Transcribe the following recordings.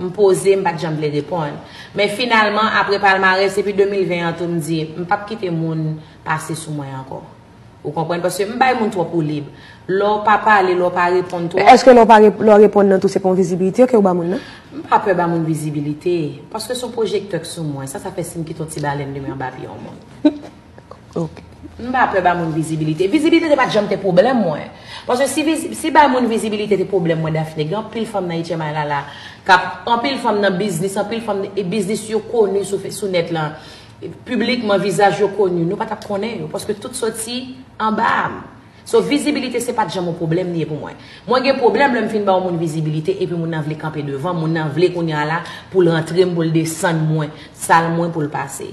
M poze, m pa t janm vle reponn. Men finalman, apre palmarès epi 2020 an tou m di, m pa p kite moun pase sou mwen ankò. Ou konprann? Paske m bay moun twòp woulib. Lè w pa pale, lè w pa reponn twòp. Men èske lè w pa reponn, lè w reponn nan tou se pa yon vizibilite ke w ba moun nan? M pa pè ba moun vizibilite. Paske se yon pwojektè k sou mwen. Sa sa fè si m kite yon ti balèn limen anba pye yon moun? M pa pè ba moun vizibilite. Vizibilite te pat janm te pwoblèm mwen. Paske si bay moun vizibilite te pwoblèm mwen Daphnée, gen anpil fanm nan Ecemay la la, kap, anpil fanm nan biznis, anpil fanm, e biznis yo koni sou nèt lan, piblikman, vizaj yo koni, nou pa tap konnen yo, paske tout soti anba a m. So, vizibilite se pat janm yon pwoblèm li ye pou mwen. Mwen gen pwoblèm lè m fin ba yon moun vizibilite epi moun nan vle kanpe devan m, moun nan vle kounye a la pou l rantre m, pou l desann mwen, sal mwen pou l pase.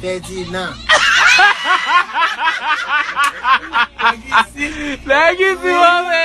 Pèdi nan. Nèg isi. Nèg isi move.